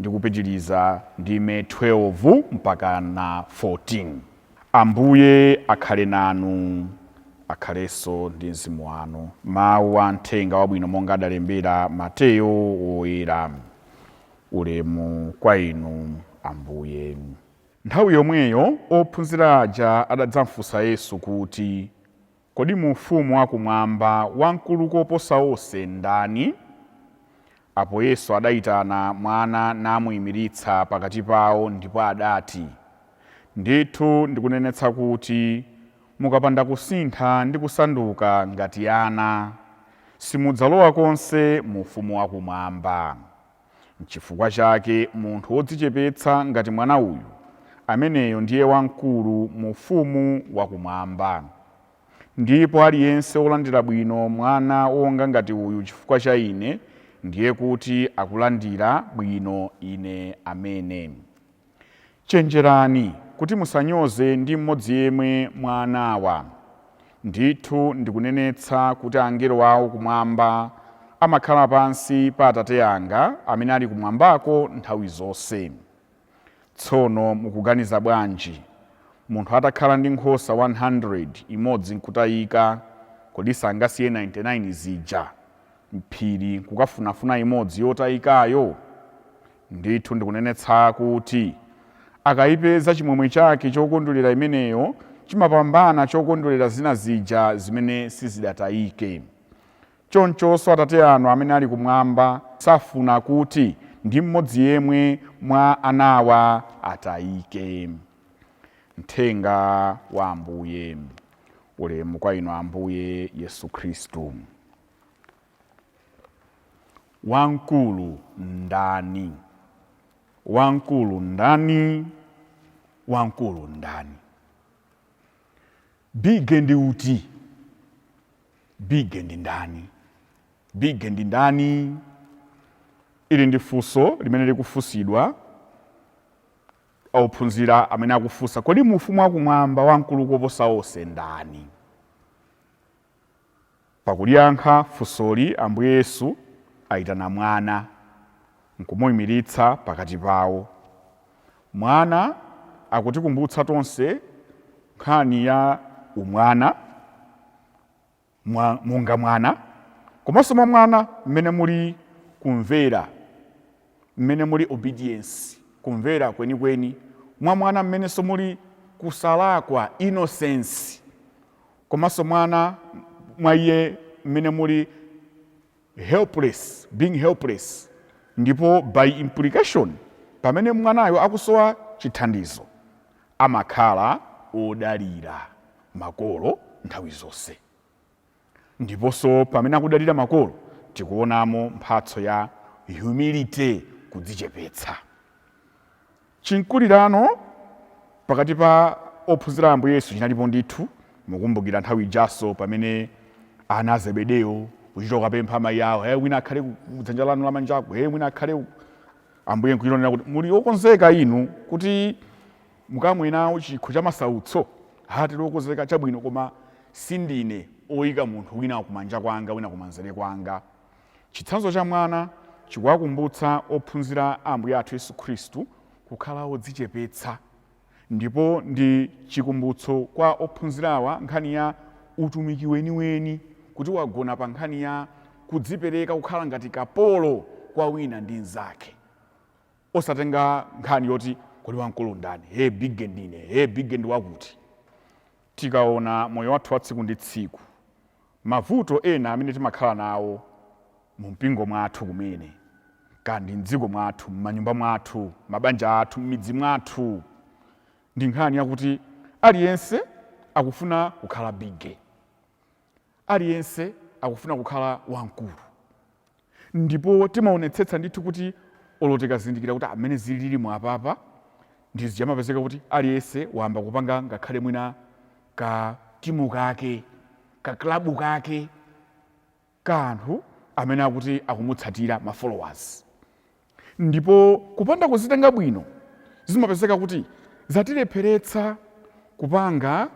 ndi kupitiriza ndime 12 mpaka na 14. Ambuye akhale nanu, akhalenso ndi mzimu wanu. Mawu a Mthenga Wabwino monga adalembera Mateyo Woyera. Ulemu kwa Inu, Ambuye. Nthawi yomweyo ophunzira aja adadzamfunsa Yesu kuti. Kodi mu Ufumu wa Kumwamba wamkulu koposa onse ndani? Apo Yesu adaitana mwana namuimiritsa pakati pawo, ndipo adati, Ndithu ndikunenetsa kuti mukapanda kusintha ndi kusanduka ngati ana, simudzalowa konse mu Ufumu wa Kumwamba. N'chifukwa chake munthu wodzichepetsa ngati mwana uyu, ameneyo ndiye wamkulu mu ufumu wakumwamba. Ndipo aliyense wolandira bwino mwana wonga ngati uyu chifukwa cha Ine, ndiye kuti akulandira bwino Ine amene. Chenjerani kuti musanyoze ndi mmodzi yemwe mwa anawa. Ndithu ndikunenetsa kuti angelo awo kumwamba amakhala pansi pa Atate anga amene ali kumwambako nthawi zonse. Tsono mukuganiza bwanji? Munthu atakhala ndi nkhosa 100, imodzi n'kutayika, kodi sangasiye 99 zija m'phiri kukafunafuna imodzi yotayikayo? Ndithu ndikunenetsa kuti akaipeza chimwemwe chake chokondwerera imeneyo chimapambana chokondwerera zina zija zimene sizidatayike. Chonchonso Atate anu amene ali kumwamba safuna kuti ndi mmodzi yemwe mwa anawa atayike. Mthenga wa Ambuye. Ulemu kwa Inu Ambuye Yesu Khristu. Wamkulu ndani? Wamkulu ndani? Wamkulu ndani? Bige ndi uti? Bige ndi ndani? Bige ndi ndani? Ili ndi funso limene likufunsidwa ophunzira amene akufunsa, kodi mu ufumu wakumwamba wamkulu koposa onse ndani? Pakuliyankha funsoli, Ambuye Yesu aitana mwana n'kumuimiritsa pakati pawo. Mwana akutikumbutsa tonse nkhani ya umwana, monga mwana, komanso mwa mwana mmene muli kumvera, mmene muli obedience, kumvera kwenikweni, mwa mwana mmenenso muli kusalakwa, innocence, komanso mwana mwa iye mmene muli helpless being helpless ndipo by implication pamene mwanayo akusowa chithandizo amakhala odalira makolo nthawi zonse ndiponso pamene akudalira makolo tikuonamo mphatso ya humility kudzichepetsa Chimkulirano pakati pa ophunzira a Ambuye Yesu chinalipo ndithu. Mukukumbukira nthawi ijanso pamene ana a Zebedeo kuchita kukapempha amayi awo, eh, wina akhale ku dzanja lanu lamanjaku, eh, wina akhale uku. Ambuye nkuchita kunena kuti, muli okonzeka inu kuti mukamwe nawo chikho cha masautso? Ha, tili okonzeka, chabwino, koma sindine oyika munthu wina kumanja kwanga wina kumanzere kwanga. Chitsanzo cha mwana chikuwakumbutsa ophunzira a Ambuye athu Yesu Khristu kukhala odzichepetsa, ndipo ndi chikumbutso kwa ophunzirawa nkhani ya utumiki weniweni kuti wagona pa nkhani ya kudzipereka kukhala ngati kapolo kwa wina ndi mzake. Osatenga nkhani yoti kodi wamkulu ndani? Hee bigge ndine, hee bigge ndi wakuti. Tikaona moyo wathu wa tsiku ndi tsiku, mavuto ena amene timakhala nawo mu mpingo mwathu kumene, kaya ndi m'dziko mwathu, m'manyumba mwathu, mabanja athu, m'midzi mwathu, ndi nkhani yakuti aliyense akufuna kukhala bigge, aliyense akufuna kukhala wamkulu. Ndipo timaonetsetsa ndithu kuti olo tikazindikira kuti a mmene zililimu apapa ndi zija zija amapezeka kuti aliyense wayamba kupanga ngakhale mwina ka timu kake, ka club kake ka anthu amene akuti akumutsatira, ma followers. Ndipo kupanda kuzitenga bwino, zimapezeka kuti zatilepheretsa kupanga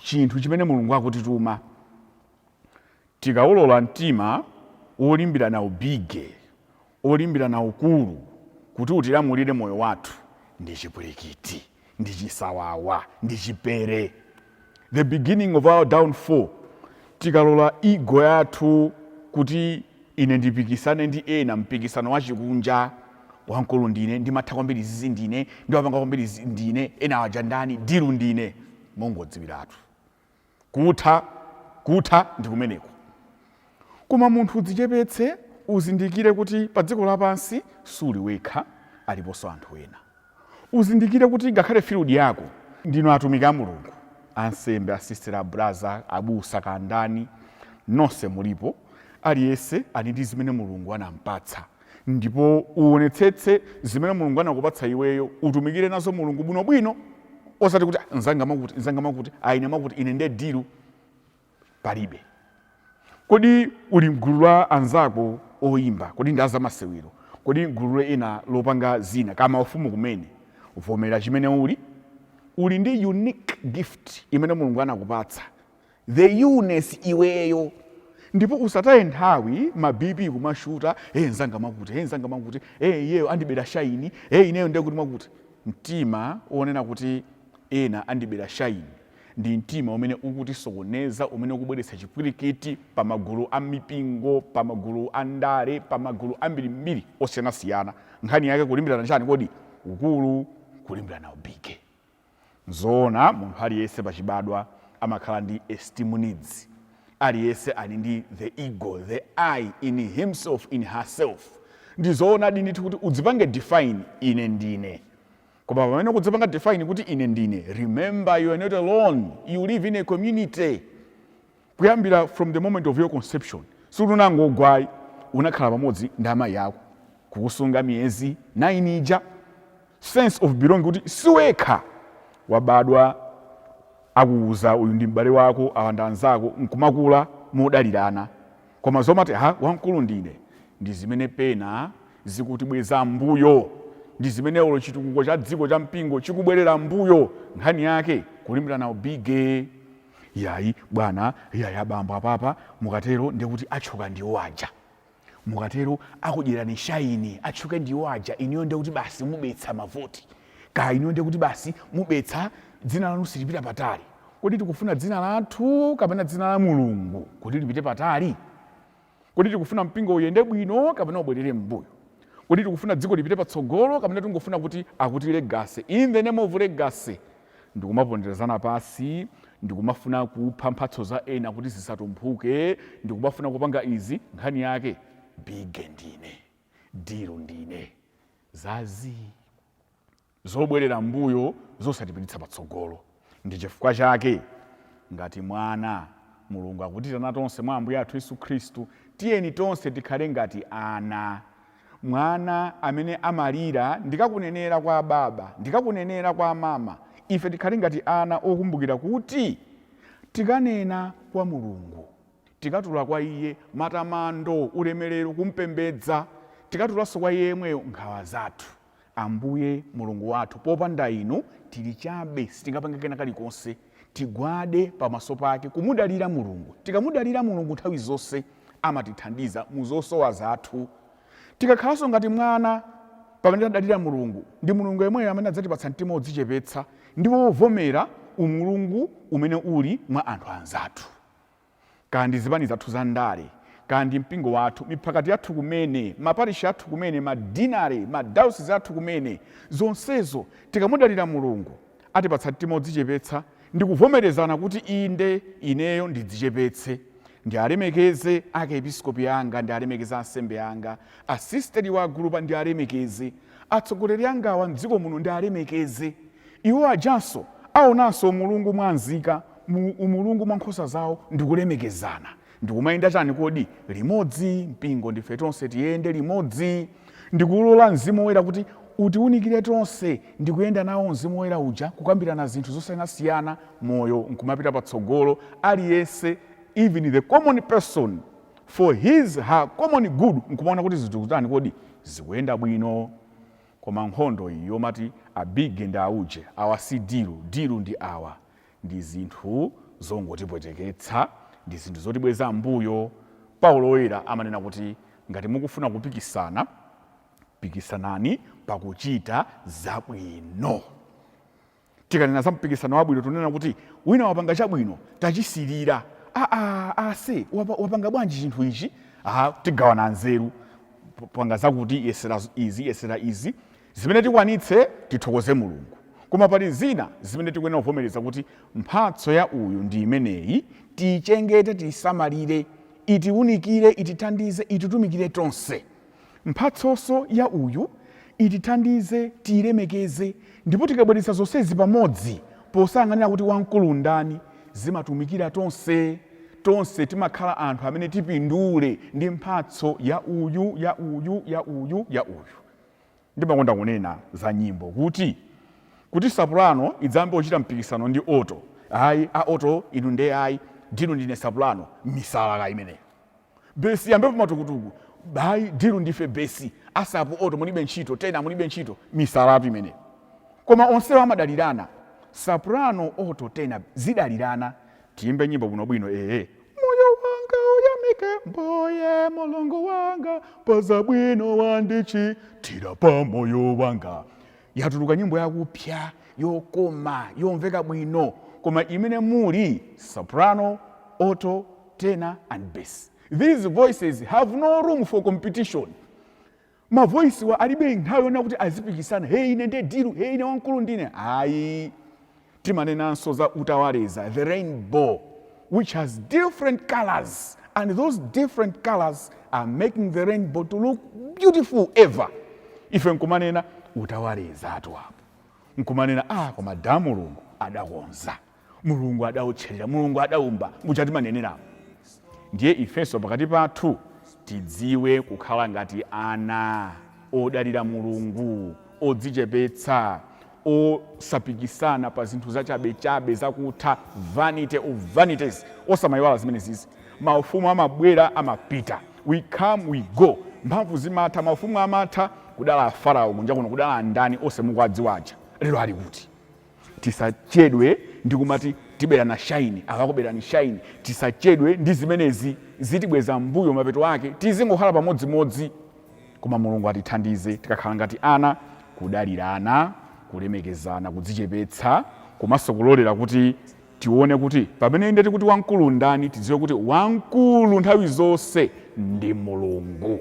chinthu chimene Mulungu akutituma. Tikaulola mtima wolimbirana ubige, wolimbirana ukulu kuti utilamulire moyo wathu, ndi chipwirikiti. ndi chisawawa ndi chipere the beginning of our downfall tikalola ego yathu kuti ine ndipikisane ndi ena mpikisano wachikunja wamkulu ndine ndimatha kwambiri zizi ndine ndimapanga kwambiri ndine enawa aja ndani dilu ndine mongodziwiratu Kutha, kutha ndi kumeneko. Koma munthu udzichepetse, uzindikire kuti padziko lapansi suli wekha, aliponso anthu ena. Uzindikire kuti ngakhale field yako, ndinu atumiki a Mulungu, ansembe, asisitera, abraza, abusa, kaya ndani, nonse mulipo, aliyense ali ndi zimene Mulungu anampatsa. Ndipo uwonetsetse zimene Mulungu anakupatsa iweyo, utumikire nazo Mulungu bwino bwino, osati kuti ah, nzanga mwakuti, nzanga mwakuti, ah, ine mwakuti, ine nde dilu. Palibe. Kodi uli mgulu la anzako oyimba? Kodi ndi azamasewero? Kodi mgulu la ena lopanga zina? Kama ufumu kumene. Vomerera chimene uli. Uli ndi unique gift imene Mulungu anakupatsa. The uniqueness iweyo ndipo usataye nthawi ma bp kumashuta ee nzanga mwakuti ee nzanga mwakuti ee iyeyo andibera shayini ee ineyo ndekuti mwakuti mtima onena kuti ena andibera shayini ndi mtima umene ukutisokoneza umene ukubweretsa chipwirikiti pamagulu amipingo pamagulu andale pamagulu ambirimbiri osiyanasiyana nkhani yake kulimbirana chani kodi? ukulu kulimbirana ubige. Nzoona, munthu aliyense pachibadwa amakhala ndi esteem needs. Aliyense ali ndi the ego, the I in himself, in herself. Ndi zoona ndithu kuti udzipange define, Ine ndine. Koma pamene ukudzipanga define kuti ine ndine, remember you are not alone, you live in a community. Kuyambira from the moment of your conception, sikuti unangogwa ayi, unakhala pamodzi ndi amayi ako kukusunga miyezi 9 ija, sense of belonging kuti siwekha wabadwa akuuza uyu ndi m'bale wako awa ndi anzako nkumakula modalirana koma zomati ee wamkulu ndine ndi zimene pena zikutibweza m'mbuyo ndi zimene olo chitukuko cha dziko cha mpingo chikubwerera m'mbuyo nkhani yake kulimbirana ubige Iyayi, bwana, iyayi, abambo, apapa mukatero ndiye kuti atchuka ndiwo aja. Mukatero akudyerani shayini, atchuke ndiwo aja, inuyo ndiye kuti basi mubetsa mavoti. Kaya inuyo ndiye kuti basi mubetsa, dzina lanu silipita patali. Kodi tikufuna dzina lathu kapena dzina la Mulungu kuti lipite patali? Kodi tikufuna mpingo uyende bwino kapena ubwerere m'mbuyo? Kodi tikufuna dziko lipite patsogolo kapena tingofuna kuti akuti legacy, in the name of legacy, ndikumaponderezana pansi ndikumafuna kupha mphatso za ena kuti zisatumphuke ndikumafuna kupanga izi nkhani yake bige ndine, dilu ndine. Za zii. Zobwerera m'mbuyo zosatipititsa patsogolo. Ndi chifukwa chake, ngati mwana, Mulungu akutiitana tonse mwa Ambuye athu Yesu Khristu, tiyeni tonse tikhale ngati ana. Mwana amene amalira ndikakunenera kwa ababa, ndikakunenera kwa amama, ife tikhale ngati ana okumbukira kuti tikanena kwa Mulungu, tikatula kwa Iye matamando, ulemerero, kumpembedza, tikatulanso kwa Iye yemweyo nkhawa zathu. Ambuye, Mulungu wathu, popanda Inu tiri chabe, sitingapange kena kalikonse. Tigwade pamaso pake, kumudalira Mulungu. Tikamudalira Mulungu nthawi zonse, amatithandiza mu zosowa zathu. Tikakhalanso ngati mwana pamene tadalira Mulungu, ndi Mulungu yemweyo amene adzatipatsa mtima wodzichepetsa ndipo wovomera umulungu umene uli mwa anthu anzathu. kaya ndi zipanizi zathu za ndale, kaya ndi mpingo wathu, miphakati yathu kumene, maparishi athu kumene, ma deanery, ma dayosizi athu kumene, zonsezo tikamudalira Mulungu, atipatsa mtima odzichepetsa ndi kuvomerezana kuti inde, ineyo ndidzichepetse, ndialemekeze akiepiskopi anga, ndialemekeze ansembe anga, asisteriwa, agulupa ndialemekeze, atsogoleri angawa m'dziko muno ndialemekeze, iwo ajanso aonanso umulungu mwa nzika umulungu mwa nkhosa zawo ndi kulemekezana. Ndikumayenda chani kodi? Limodzi, mpingo, ndife tonse tiyende limodzi. Ndikulola Mzimu Woyera kuti utiunikire tonse ndi kuyenda nawo Mzimu Woyera uja, kukambirana zinthu zosiyanasiyana, moyo nkumapita patsogolo, aliyense, even the common person, for his, her common good, nkumaona kuti zinthu zikutani kodi? Zikuyenda bwino. Koma nkhondo iyi yomati a biggie ndi auje, awa si dilu, dilu ndi awa. ndi zinthu zongotipweteketsa, ndi zinthu zotibweza m'mbuyo. Paulo Woyera amanena kuti ngati mukufuna kupikisana, pikisanani pakuchita zabwino. Tikanena za mpikisano wabwino, tunena kuti wina wapanga chabwino, tachisilira. Ase, wapanga bwanji chinthu ichi? Tigawana nzeru. Panga zakuti, yesera izi, yesera izi. Zimene tikwanitse tithokoze Mulungu, koma pali zina zimene tikuyenera kuvomereza kuti mphatso ya uyu ndi imeneyi, tiichengete, tiisamalire, itiunikire, itithandize, ititumikire tonse. Mphatsonso ya uyu itithandize, tiilemekeze, ndipo tikabweretsa zonsezi pamodzi posayang'anira kuti wamkulu ndani, zimatumikira tonse. Tonse timakhala anthu amene tipindule ndi mphatso ya uyu, ya uyu, ya uyu, ya uyu. Ndimakonda kunena za nyimbo kuti, kuti sapulano idzayambe kuchita mpikisano ndi oto, ayi a oto inu nde ayi, dilu ndine sapulano, misalaka imeneyo. Besi iyambepo matukutuku, ayi dilu ndife besi, asapu oto mulibe ntchito, tena mulibe ntchito, misalatu imeneyo. Koma onsewa amadalirana, sapulano, oto, tena zidalirane, Tiyimbe nyimbo bwino bwino ee. Moyo wanga uyamike mbuye mulungu wanga pazabwino wandichitira pa moyo wanga yatuluka nyimbo yakupya yokoma yomveka bwino koma imene muli soprano, alto, tenor and bass these voices have no room for competition Ma voice wa alibe nthawi yonena kuti azipikisana hey ine nde dilu hey ine wamkulu ndine ayi timanenanso za utawaleza the rainbow which has different colors and those different colors are making the rainbow to look beautiful ever ife nkumanena utawaleza watu apo nkumanena ah koma ada Mulungu adakonza Mulungu adaotcherera, Mulungu adaumba, muja timaneneramu. Ndiye ifenso pakati pathu tidziwe kukhala ngati ana odalira Mulungu, odzichepetsa, osapikisana pa zinthu zachabechabe, zakutha, vanity of vanities. Osamaiwala zimene izi. Maufumu amabwera, amapita. We come, we go. Mphamvu zimatha, maufumu amatha. Kudala a Farao kunja kuno, kudala a ndani onse mukuwadziwa aja? Lero ali kuti? Tisachedwe ndi kumati tiberana shayini, awa akuberani shayini. Tisachedwe ndi zimenezi, zitibweza m'mbuyo mapeto ake tizingokhala pamodzimodzi. Koma Mulungu atithandize tikakhala ngati ana, kudalirana, kulemekezana, kudzichepetsa komanso kulolera kuti tione kuti pamene inde tikuti wamkulu ndani, tidziwe kuti wamkulu nthawi zonse ndi Mulungu.